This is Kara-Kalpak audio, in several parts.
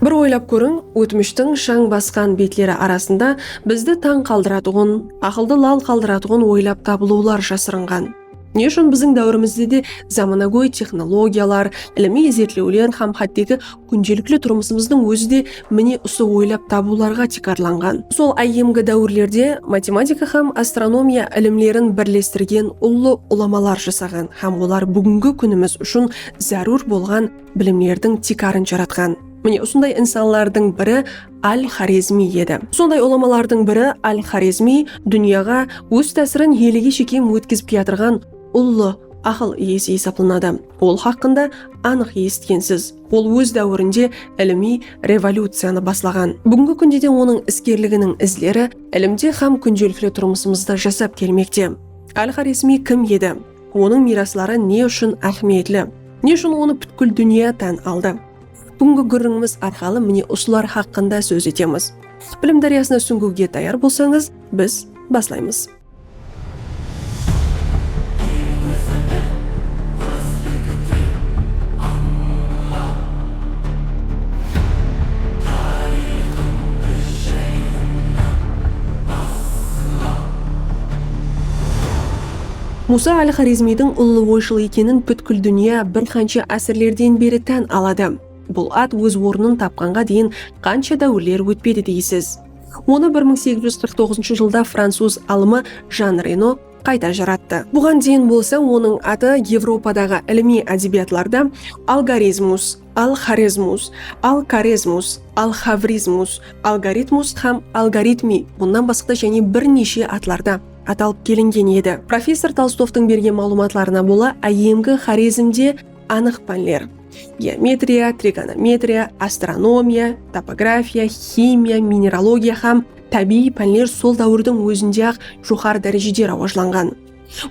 Bir oylap kóriń, ótmishtiń shań basqan betleri arasında bizdi tań qaldıratuǵın, aqıldı lal qaldıratuǵın oylap tabılıwlar jasırınǵan. Ne ushın biziń dáwirimizde de zamanagóy texnologiyalar, ilimiy izertlewler hám hátteki kúndelikli turmısımızdıń ózi de mine usı oylap tabıwlarǵa tiykarlanǵan. Sol áyyemgi dáwirlerde matematika hám astronomiya ilimlerin birlestirgen ullı ulamalar jasaǵan hám olar búgingi kúnimiz ushın zárúr bolǵan bilimlerdiń tiykarın jaratqan. Mine, usınday insanlardıń biri Al-Xorezmiy edi. Usınday ulamalardıń biri Al-Xorezmiy dúnyaǵa óz tásirin elege shekem ótkizip kiyatırǵan ullı aqıl iyesi esaplanadı. Ol haqqında anıq esitkensiz. Ol óz dáwirinde ilimiy revolyuciyanı baslaǵan. Búgingi kúnde de onıń iskerliginiń izleri ilimde hám kúndelikli turmısımızda jasap kelmekte. Al-Xorezmiy kim edi? Onıń miyrasları ne ushın áhmiyetli? Ne ushın onı pútkil dúnya tán aldı? Búgingi gúrrińimiz arqalı mine usılar haqqında sóz etemiz. Bilim dáryasına súńgiwge tayar bolsańız, biz baslaymız. Musa al-Xorezmiydiń ullı oyshıl ekenin pútkil dúnya bir qansha ásirlerden beri tán aladı. Bul at óz ornın tapqanǵa deyin qansha dáwirler ótpedi deysiz? Onı bir mıń segiz júz qırq toǵızınshı jılda francuz alımı Jan Reno qayta jarattı. Buǵan deyin bolsa onıń atı Evropadaǵı ilimiy ádebiyatlarda Algarizmus, Al-Xorezmus, Al-Karezmus, Al-Xavrizmus, Algaritmus hám Algaritmi, bunnan basqada jáne bir neshe atlarda. atalıp kelingen edi. Professor Tolstovtıń bergen maǵlıwmatlarına bola áyyemgi Xorezmde anıq pánler, geometriya, trigonometriya, astronomiya, topografiya, ximiya, mineralogiya hám tábiyiy pánler sol dáwirdiń ózinde-aq joqarı dárejede rawajlanǵan.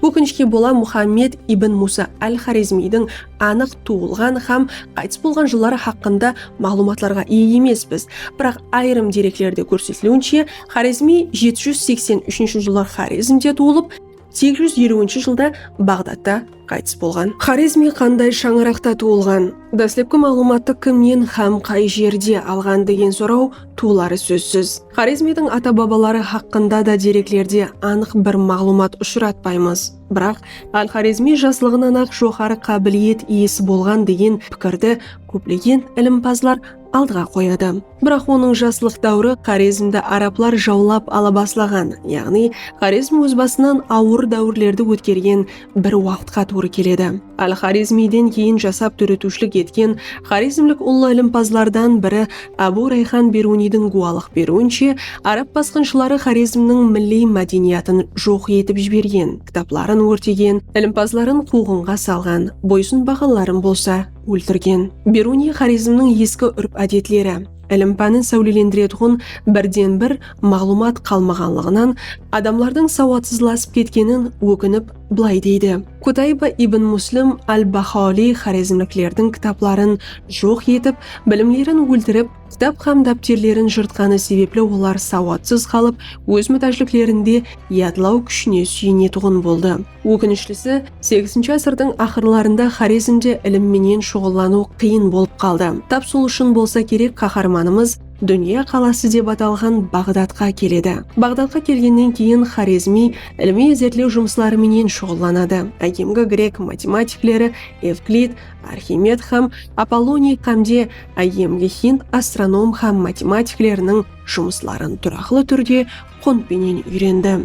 Ókinishke bola Muxammed ibn Musa al-Xorezmiydiń anıq tuwılǵan hám qaytıs bolǵan jılları haqqında maǵlıwmatlarǵa iye emespiz, biraq ayırım dereklerde kórsetiliwinshe, Xorezmi jeti júz seksen úshinshi jılı Xorezmde tuwılıp, segiz júz eliwinshi jılda Baǵdadta qaytıs bolǵan. Xorezmi qanday shańaraqta tuwılǵan, dáslepki maǵlıwmattı kimnen hám qay jerde alǵan degen soraw tuwıları sózsiz. Xorezmidiń ata-babaları haqqında da dereklerde anıq bir maǵlıwmat ushıratpaymız. Biraq, al-Xorezmi jaslıǵınan-aq joqarı qábiliyet iyesi bolǵan degen pikirdi kóplegen ilimpazlar aldıǵa qoyadı. Biraq onıń jaslıq dáwiri Xorezmdi arablar jawlap ala baslaǵan, yaǵnıy Xorezm óz basınan awır dáwirlerdi ótkergen bir waqıtqa tuwrı keledi. Al-Xorezmiyden keyin jasap dóretiwshilik etken xorezmlik ullı ilimpazlardan biri Ábu Rayxan Beruniydiń gúwalıq beriwinshe, arab basqınshıları Xorezmniń milliy mádeniyatın joq etip jibergen, kitapların órtegen, ilimpazların quwǵınǵa salǵan, boysınbaǵanların bolsa, óltirgen. Beruniy Xorezmniń eski úrp-ádetleri, ilim-pánin sáwlelendiretuǵın birden-bir maǵlıwmat qalmaǵanlıǵınan adamlardıń sawatsızlasıp ketkenin ókinip bılay deydi, Kutayba ibn Muslim al-Baxaoliy xorezmliklerdiń kitapların joq etip, bilimlerin óltirip, kitap hám dápterlerin jırtqanı sebepli olar sawatsız qalıp, óz mútájliklerinde yadlaw kúshine súyenetuǵın boldı. Ókinishlisi, segizinshi ásirdiń aqırlarında Xorezmde ilim menen shuǵıllanıw qıyın bolıp qaldı. Tap sol ushın bolsa kerek qaharmanımız Dúnya qalası dep atalǵan Baǵdadqa keledi. Baǵdadqa kelgennen keyin Xorezmiy ilimiy izertlew jumısları menen shuǵıllanadı. Áyyemgi grek matematikleri Evklid, Arximed hám Apolloniy xámde áyyemgi hind astronom hám matematikleriniń jumısların turaqlı túrde qunt penen úyrendi.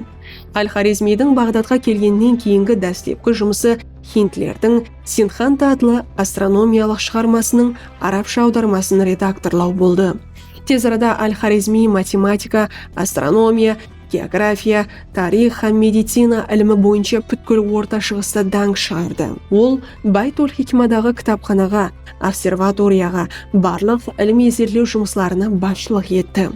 Al-Xorezmiydiń Baǵdadqa kelgennen keyingi dáslepki jumısı hindlerdiń Sinxanta atlı astronomiyalıq shıǵarmasınıń arabsha awdarmasın redaktorlaw boldı. Tez arada Al-Xorezmiy matematika, astronomiya, geografiya, tariyx hám medicina ilimi boyınsha pútkil Orta Shıǵısta dánk shıǵardı. Ol Bayt-ol-Hikmadaǵı kitapxanaǵa, observatoriyaǵa, barlıq ilimiy-izertlew jumıslarına basshılıq etti.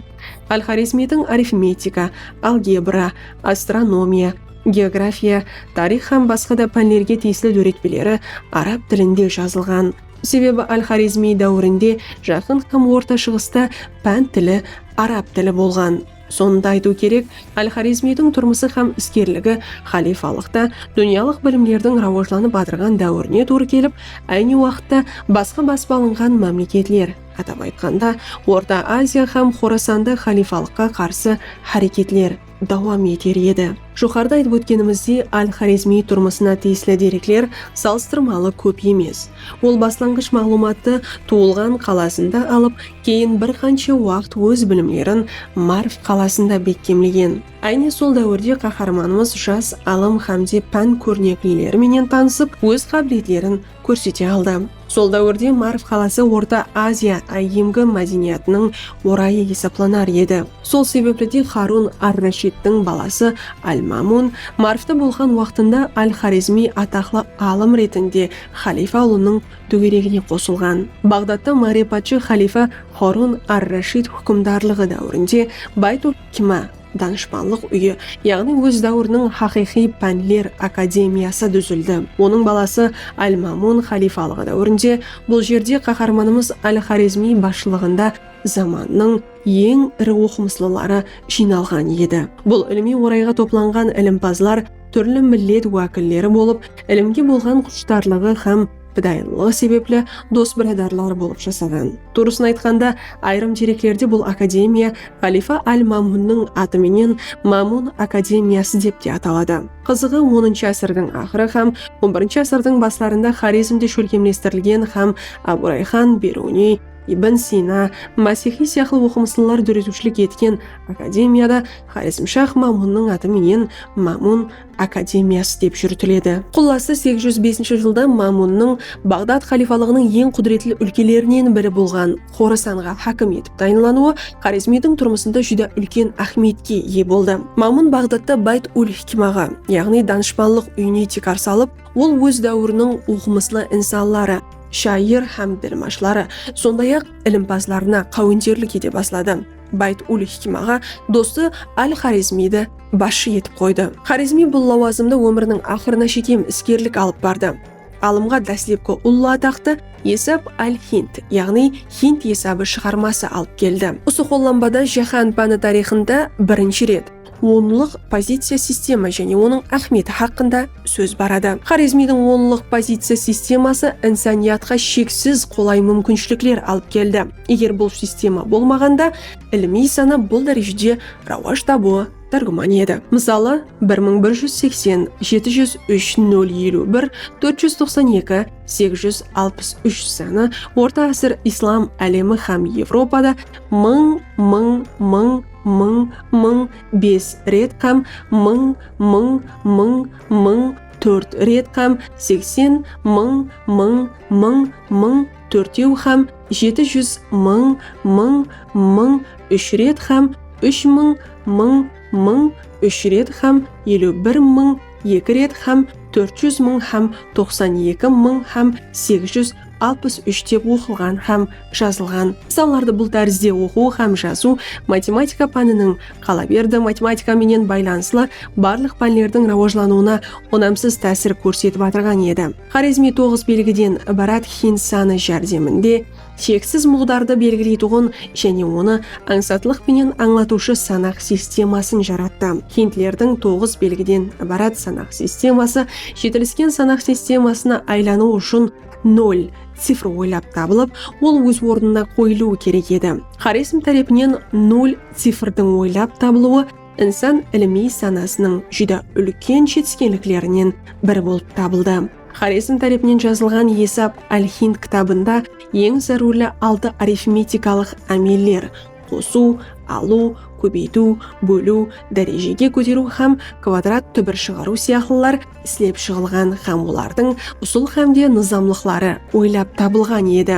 Al-Xorezmiydiń arifmetika, algebra, astronomiya, geografiya, tariyx hám basqa da pánlerge tiyisli dóretpeleri arab tilinde jazılǵan. Sebebi Al-Xorezmiy dáwirinde Jaqın hám Orta Shıǵısta pán tili arab tili bolǵan. Sonı da aytıw kerek, Al-Xorezmiydiń turmısı hám iskerligi xalifalıqta dúnyalıq bilimlerdiń rawajlanıp atırǵan dáwirine tuwrı kelip, áyne waqıtta basqa basıp alınǵan mámleketler, Atap aytqanda, Orta Aziya hám Xorasanda xalifalıqqa qarsı háreketler dawam eter edi. Joqarıda aytıp ótkenimizdey, al-Xorezmiy turmısına tiyisli derekler salıstırmalı kóp emes. Ol baslanǵısh maǵlıwmattı tuwılǵan qalasında alıp, keyin bir qansha waqıt óz bilimlerin Marv qalasında bekkemlegen. Áyne sol dáwirde qaharmanımız jas alım hámde pán kórneklileri menen tanısıp, óz qábiletlerin kórsete aldı. Sol dáwirde Marv qalası Orta Aziya áyyemgi mádeniyatınıń orayı esaplanar edi. Sol sebepli de Xarun ar-Rashidtiń balası al-Mámun Marvta bolǵan waqtında al-Xorezmiy ataqlı alım retinde xalifa ulınıń dógeregine qosılǵan. Baǵdadta márefatshı xalifa Xarun ar-Rashid húkimdarlıǵı dáwirinde Bayt-ul-Hikma, Danıshpanlıq úyi, yaǵnıy óz dáwiriniń haqıyqıy pánler akademiyası dúzildi. Onıń balası Al-Mámun xaliyfalıǵı dáwirinde bul jerde qaharmanımız Al-Xorezmiy basshılıǵında zamannıń eń iri oqımıslıları jıynalǵan edi. Bul ilimiy orayǵa toplanǵan ilimpazlar túrli millet wákilleri bolıp, ilimge bolǵan qushtarlıǵı hám. pidayılılıǵı sebepli dos-biradarlar bolıp jasaǵan. Tuwrısın aytqanda, ayırım dereklerde bul akademiya Xalifa al-Mamunniń atı menen Mamun akademiyası dep te ataladı. Qızıǵı, onınshı ásirdiń aqırı hám on birinshi ásirdiń baslarında Xorezmde shólkemlestirilgen hám Abu Rayxan, Beruniy, Ibn Sina, Masixiy sıyaqlı oqımıslılar dóretiwshilik etken akademiyada Xorezmshah Mamunniń atı menen Mamun akademiyası dep júritiledi. Qullası segiz júz besinshi jılda Mámunnıń Baǵdad xalifalıǵınıń eń qúdiretli úlkelerinen biri bolǵan Xorasanǵa hákim etip tayınlanıwı Xorezmiydiń turmısında júdá úlken áhmiyetke iye boldı. Mámun Baǵdadta Bayt-ul-hikmaǵa, yaǵnıy Danıshpanlıq úyine tiykar salıp, ol óz dáwiriniń oqımıslı insanları, shayır hám dilmashları, sonday-aq, ilimpazlarına qáwenterlik ete basladı. Bayt ul-Hikmaǵa dosı al-Xorezmiydi basshı etip qoydı. Xorezmiy bul lawazımda ómiriniń aqırına shekem iskerlik alıp bardı. Alımǵa dáslepki ullı ataqtı Esab al-Hind, yaǵnıy Hind esabı shıǵarması alıp keldi. Usı qollanbada jáhán páni tariyxında birinshi ret. Onlıq poziciya sistema jáne onıń áhmiyeti haqqında sóz baradı. Xorezmiydiń onlıq poziciya sisteması insaniyatqa sheksiz qolay múmkinshilikler alıp keldi. Eger bul sistema bolmaǵanda, ilimiy sana bul dárejede rawaj tabıwı tárgúman edi. Mısalı, bir mıń bir júz seksen, jeti júz úsh, nol eliw bir, tórt júz toqsan eki, segiz júz alpıs úsh sanı orta ásir islam álemi hám Evropada mıń, mıń, mıń, mıń, mıń, bes ret qám mıń, mıń, mıń, mıń, tórt ret qám seksen, mıń, mıń, mıń, mıń, tórtew qám jeti júz, mıń, mıń, mıń, úsh ret qám úsh mıń, mıń, mıń, úsh ret qám eliw bir mıń, eki ret qám tórt júz mıń qám toqsan eki mıń qám segiz júz, alpıs úsh dep oqılǵan hám jazılǵan. Misallardı bul tárizde oqıw hám jazıw matematika pániniń, qalaberdi, matematika menen baylanıslı barlıq pánlerdiń rawajlanıwına unamsız tásir kórsetip atırǵan edi. Xorezmiy toǵız belgiden ibarat hind sanı járdeminde sheksiz muǵdardı belgileytuǵın jáne onı ańsatlıq penen ańlatıwshı sanaq sistemasın jarattı. Hindlerdiń toǵız belgiden ibarat sanaq sisteması Jetilisken sanaq sistemasına aylanıw ushın nol cifr oylap tabılıp, ol óz ornına qoyılıwı kerek edi. Xorezm tárepinen nol cifrdiń oylap tabılıwı insan ilimiy sanasınıń júdá úlken jetiskenliklerinen biri bolıp tabıldı. Xorezm tárepinen jazılǵan Esap al-Hind kitabında eń zárúrli altı arifmetikalıq ámeller, qosıw, alıw, kóbeytiw, bóliw, dárejege kóteriw hám kvadrat túbir shıǵarıw sıyaqlılar islep shıǵılǵan hám olardıń usıl hám de nızamlıqları oylap tabılǵan edi.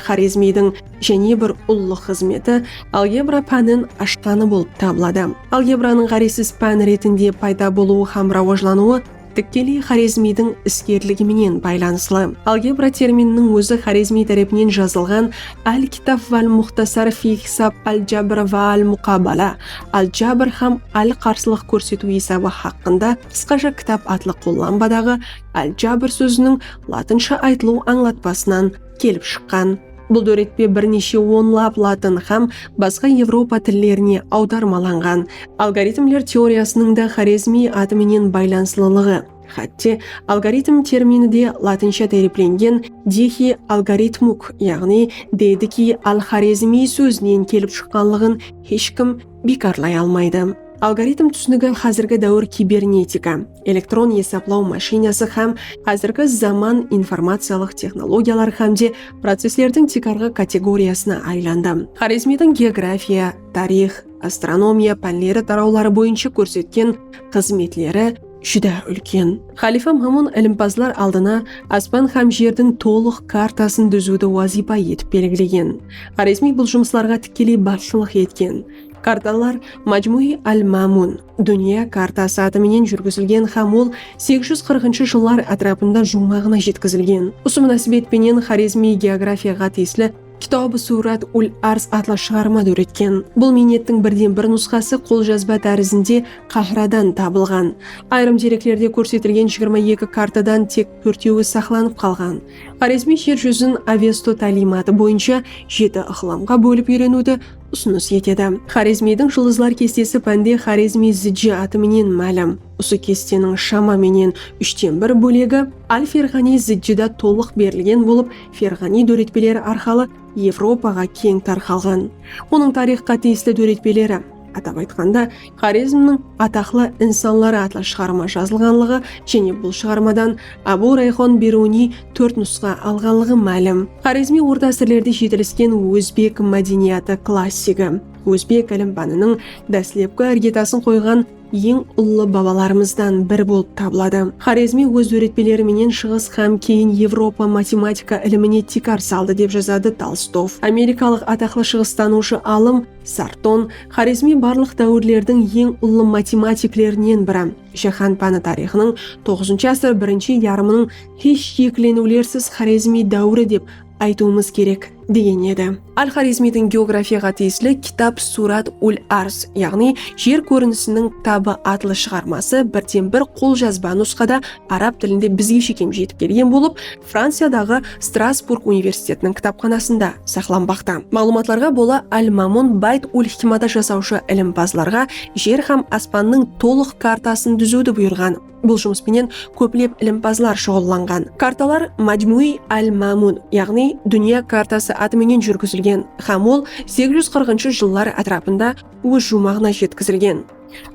Xorezmiydiń jáne bir ullı xızmeti algebra pánin ashqanı bolıp tabıladı. Algebranıń ǵárezsiz pán retinde payda bolıwı hám rawajlanıwı, tikkeley Xorezmiydiń iskerligi menen baylanıslı. Algebra termininiń ózi Xorezmiy tárepinen jazılǵan Al-Kitaf val-Muxtasar fi hisab al-Jabr va al-Muqabala, Al-Jabr hám al-Qarsılıq kórsetiw esabı haqqında qısqasha kitap atlı qollanbadaǵı al-Jabr sóziniń latınsha aytılıw ańlatpasınan kelip shıqqan. Bul dóretpe bir neshe onlap latın hám basqa evropa tillerine awdarmalanǵan. Algoritmler teoriyasınıń da Xorezmiy atı menen baylanıslılıǵı, hátte, algoritm termini de latınsha táriyplengen dihi algoritmuk, yaǵnıy dedikiy al-xorezmiy sózinen kelip shıqqanlıǵın hesh kim biykarlay almaydı. Algoritm túsinigi házirgi dáwir kibernetika, elektron esaplaw mashinası hám házirgi zaman informaciyalıq texnologiyalar hámde processlerdiń tiykarǵı kategoriyasına aylandı. Xorezmiydiń geografiya, tariyx, astronomiya pánleri tarawları boyınsha kórsetken xızmetleri, júdá úlken. Xalifa Mamun ilimpazlar aldına aspan hám jerdiń tolıq kartasın dúziwdi wazıypa etip belgilegen. Xorezmiy bul jumıslarǵa tikkeley basshılıq etken. Kartalar Majmui al-Mamun, Dúnya kartası, atı menen júrgizilgen hám ol segiz júz qırqınshı jıllar átirapında juwmaǵına jetkizilgen. Usı múnásibet penen Xorezmiy geografiyaǵa tiyisli. Kitabı suwrat ul arz atlı shıǵarma dóretken. Bul miynettiń birden bir nusxası qoljazba tárizinde Qahradan tabılǵan. Ayırım dereklerde kórsetilgen jigirma eki kartadan tek tórtewi saqlanıp qalǵan. Xorezmiy jer júzin Avesto táliymatı boyınsha jeti ıqlımǵa bólip úyreniwdi usınıs etedi. Xorezmiydiń jıldızlar kestesi pánde Xorezmiy Ziji atı menen málim. Usı kesteniń shama menen úshten bir bólegi Al-Ferǵaniy Zijjida tolıq berilgen bolıp, Ferǵaniy dóretpeleri arqalı Evropaǵa keń tarqalǵan. Onıń tariyxqa tiyisli dóretpeleri, atap aytqanda, Xorezmniń ataqlı insanları atlı shıǵarma jazılǵanlıǵı jáne bul shıǵarmadan Abu Rayxon Beruniy tórt nusqa alǵanlıǵı málim. Xorezmiy orta ásirlerde jetilisken ózbek mádeniyatı klassigi, ózbek álimbanınıń dáslepki irgetasın qoyǵan eń ullı babalarımızdan biri bolıp tabıladı. Xorezmiy óz dóretpeleri menen Shıǵıs hám keyin Evropa matematika ilimine tiykar saldı, dep jazadı Tolstov. Amerikalıq ataqlı shıǵıstanıwshı alım Sarton, Xorezmiy barlıq dáwirlerdiń eń ullı matematiklerinen biri, jáhán páni tariyxınıń toǵızınshı asır birinshi yarımınıń hesh ekileniwlersiz Xorezmiy dáwiri dep aytıwımız kerek, degen edi. Al-Xorezmiydiń geografiyaǵa tiyisli Kitab Surat ul-Arz, yaǵnıy Jer kórinisiniń kitabı atlı shıǵarması birden-bir qoljazba nusqada arab tilinde bizge shekem jetip kelgen bolıp, Franciyadaǵı Strasburg universitetiniń kitapxanasında saqlanbaqta. Maǵlıwmatlarǵa bola Al-Mamun Bayt ul-Hikmada jasawshı ilimpazlarǵa jer hám aspannıń tolıq kartasın dúziwdi buyırǵan. Bul jumıs penen kóplep ilimpazlar shuǵıllanǵan. Kartalar Majmui al-Mamun, yaǵnıy Dúnya kartası atı menen júrgizilgen hám ol segiz júz qırqınshı jıllar átirapında óz juwmaǵına jetkizilgen.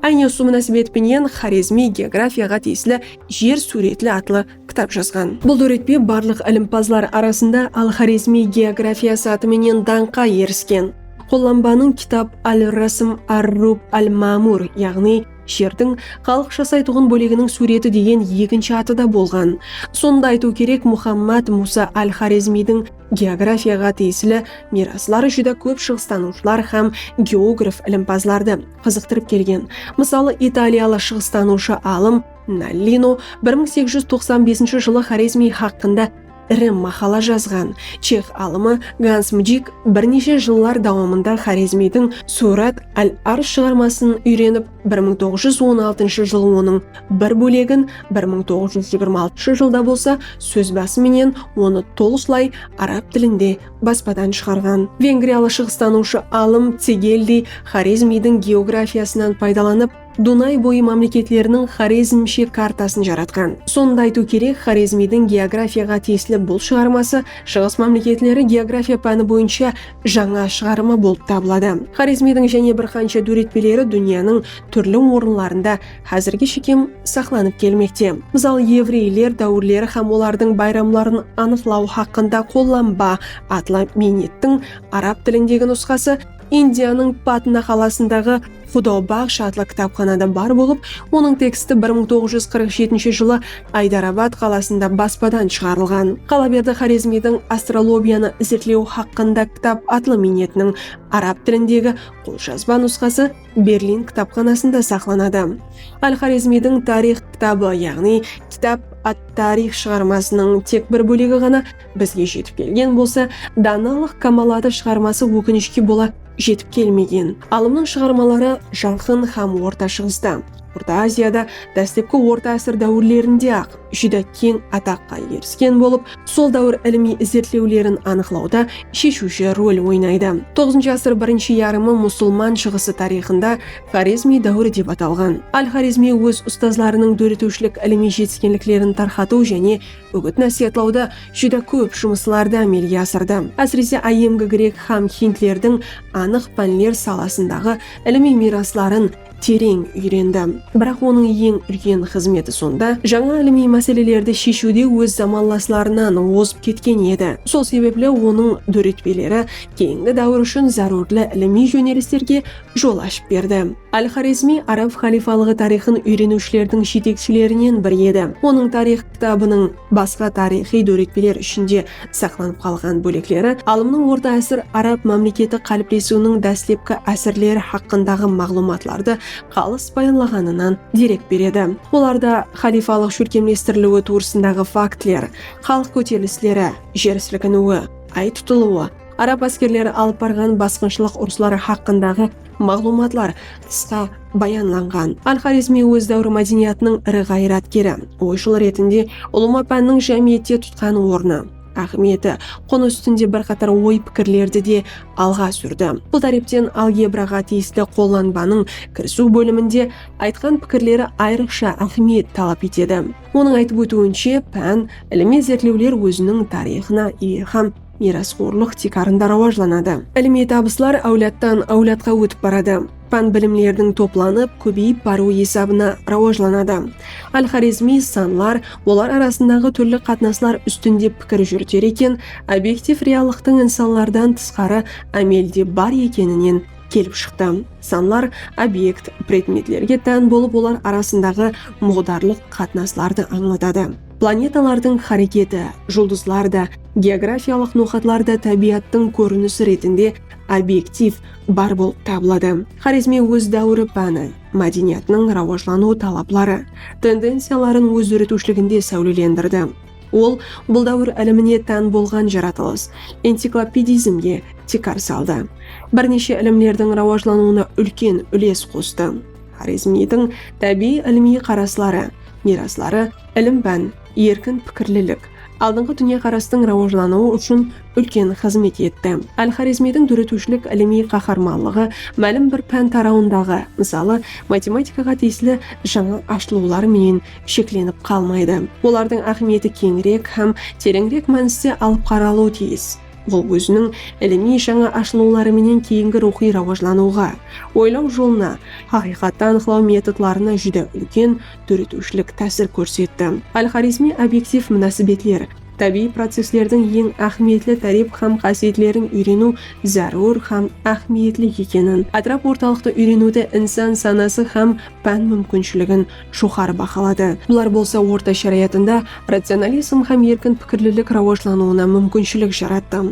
Áyne usı múnásibet penen Xorezmiy geografiyaǵa tiyisli Jer súwretli atlı kitap jazǵan. Bul dóretpe barlıq ilimpazlar arasında Al-Xorezmiy geografiyası atı menen dańqqa erisken. Qollanbanıń kitap al-Rasm ar-Rub al-Mamur, yaǵnıy, Jerdiń xalıq jasaytuǵın bóleginiń súwreti degen ekinshi atı da bolǵan. Sonı da aytıw kerek, Muxammad Musa al-Xorezmiydiń geografiyaǵa tiyisli miyrasları júdá kóp shıǵıstanıwshılar hám geograf ilimpazlardı qızıqtırıp kelgen. Mısalı, italiyalı shıǵıstanıwshı alım Nallino bir mıń segiz júz toqsan besinshi jılı Xorezmiy haqqında, Iri maqala jazǵan chex alımı Gans Mjik bir neshe jıllar dawamında Xorezmiydiń Surat al-Arz shıǵarmasın úyrenip, bir mıń toǵız júz on altıńshı jıl onıń bir bólegin, bir mıń toǵız júz jigirma altıńshı jılda bolsa sóz bası menen onı tolıslay arab tilinde baspadan shıǵarǵan. Vengriyalı shıǵıstanıwshı alım Cegeldiy Xorezmiydiń geografiyasınan paydalanıp, Dunay boyı mámleketleriniń Xorezm shek kartasın jaratqan. Sonı da aytıw kerek, Xorezmiydiń geografiyaǵa tiyisli bul shıǵarması Shıǵıs mámleketleri geografiya páni boyınsha jańa shıǵarımı bolıp tabıladı. Xorezmiydiń jáne bir qansha dóretpeleri dúnyanıń túrli orınlarında házirge shekem saqlanıp kelmekte. Mısal, evreyler dáwirleri hám olardıń bayramların anıqlaw haqqında qollanba atlı miynettiń arab tilindegi nusqası, Indiyanıń Patna qalasındaǵı Xudau baxsh atlı kitapxanada bar bolıp, onıń teksti bir mıń toǵız júz qırq jetinshi jılı Aydarabad qalasında baspadan shıǵarılǵan Qalaberdi Xorezmiydiń Astrolobiyanı izertlew haqqında kitap atlı miynetiniń arab tilindegi qoljazba nusqası Berlin kitapxanasında saqlanadı. Al-Xorezmiydiń Tarix kitabı, yaǵnıy Kitab at-Tarix shıǵarmasınıń tek bir bólegi ǵana Bizge jetip kelgen bolsa, Danalıq kamalatı shıǵarması ókinishke bola jetip kelmegen. Alımnıń shıǵarmaları Jaqın hám Orta Shıǵısta, Orta Aziyada dáslepki orta ásir dáwirlerinde-aq júdá keń ataqqa erisken bolıp, sol dáwir ilimiy izertlewlerin anıqlawda sheshiwshi rol oynaydı. Toǵızınshı ásir birinshi yarımı musılman Shıǵısı tariyxında Xorezmiy dáwiri dep atalǵan. Al-Xorezmiy óz ustazlarınıń dóretiwshilik ilimiy jetiskenliklerin tarqatıw jáne Úgit-násiyatlawda júdá kóp jumıslardı ámelge asırdı, ásirese áyyemgi grek hám hindlerdiń anıq pánler salasındaǵı ilimiy miyrasların tereń úyrendi. Biraq onıń eń úlken xızmeti sonda, jańa ilimiy máselelerdi sheshiwde óz zamanlaslarınan ozıp ketken edi. Sol sebepli onıń dóretpeleri keyingi dáwir ushın zárúrli ilimiy jónelislerge jol ashıp berdi. Al-Xorezmiy arab xalifalıǵı tariyxın úyreniwshilerdiń jetekshilerinen biri edi. Onıń tariyx kitabınıń basqa tariyxıy dóretpeler ishinde saqlanıp qalǵan bólekleri alımnıń orta ásir arab mámleketi qáliplesiwiniń dáslepki ásirleri haqqındaǵı maǵlıwmatlardı qalıs bayanlaǵanınan derek beredi. Olarda xalifalıq shólkemlestiriliwi tuwrısındaǵı faktler, xalıq kóterilisleri, jer silkiniwi, Ay tutılwı, Arab áskerleri alıp barǵan basqınshılıq urısları haqqındaǵı maǵlıwmatlar qısqa bayanlanǵan. Al-Xorezmiy óz dáwiri mádeniyatınıń iri ǵayratkeri, oyshıl retinde ulıwma pánniń jámiyette tutqan ornı, áhmiyeti, qonı ústinde bir qatar oy-pikirlerdi de alǵa súrdi. Bul tárepten algebraǵa tiyisli qollanbanıń kirisiw bóliminde aytqan pikirleri ayrıqsha áhmiyet talap etedi. Onıń aytıp ótiwinshe, pán, ilimiy izertlewler óziniń tariyxına iye hám. Miyrasxorlıq tiykarında rawajlanadı. Ilimiy tabıslar áwladtan áwladqa ótip baradı. Pán bilimlerdiń toplanıp, kóbeyip barıwı esabına rawajlanadı. Al-Xorezmiy sanlar, olar arasındaǵı túrli qatnaslar ústinde pikir júriter eken, obektiv reallıqtıń insanlardan tısqarı ámelde bar ekeninen kelip shıqtı. Sanlar obekt, predmetlerge tán bolıp olar arasındaǵı muǵdarlıq qatnaslardı ańlatadı. Planetalardıń háreketi, juldızlar da, geografiyalıq noqatlar da tábiyattıń kórinisi retinde obektiv, bar bolıp tabıladı. Xorezmi óz dáwiri páni, mádeniyatınıń rawajlanıw talapları, tendenciyaların óz dóretiwshiliginde sáwlelendirdi. Ol bul dáwir ilimine tán bolǵan jaratılıs, enciklopedizmge, tiykar saldı. Bir neshe ilimlerdiń rawajlanıwına úlken úles qostı. Xorezmiydiń tábiyiy ilimiy qarasları, miyrasları, ilim-pán, erkin pikirlilik, aldınǵı dúnyaqarastıń rawajlanıwı ushın úlken xızmet etti. Al-Xorezmiydiń dóretiwshilik ilimiy qaharmanlıǵı málim bir pán tarawındaǵı, mısalı, matematikaǵa tiyisli jańa ashılıwlar menen sheklenip qalmaydı. Olardıń áhmiyeti keńirek hám tereńirek mániste alıp qaralıwı tiyis. Ol óziniń ilimiy jańa ashılıwları menen keyingi ruwxıy rawajlanıwǵa, oylaw jolına, haqıyqattı anıqlaw metodlarına júdá úlken dóretiwshilik tásir kórsetti. Al-Xorezmiy obektiv múnásibetler, tábiyiy processlerdiń eń áhmiyetli tárep hám qásiyetlerin úyreniw zárúr hám áhmiyetli ekenin, átirap-ortalıqtı úyreniwdi insan sanası hám pán múmkinshiligin joqarı bahaladı. Bular bolsa orta sharayatında racionalizm hám erkin pikirlilik rawajlanıwına múmkinshilik jarattı.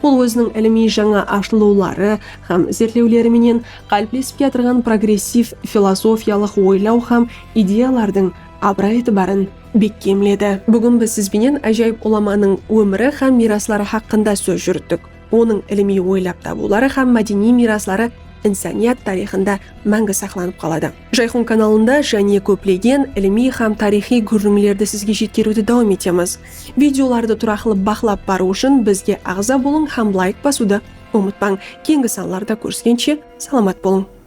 Ol óziniń ilimiy jańa ashılıwları hám izertlewleri menen qáliplesip kiyatırǵan progressiv filozofiyalıq oylaw hám ideyalardıń abıray-itibarın bekkemledi. Búgin biz siz benen ájayıp ulamanıń ómiri hám miyrasları haqqında sóz júrittik. Onıń ilimiy oylap tabıwları hám mádeniy miyrasları insaniyat tariyxında máńgi saqlanıp qaladı. Jayxun kanalında jáne kóplegen ilimiy hám tariyxıy gúrrińlerdi sizge jetkeriwdi dawam etemiz. Videolardı turaqlı baqlap barıw ushın bizge aǵza bolıń hám layk basıwdı umıtpań. Keyingi sanlarda kóriskenshe salamat bolıń!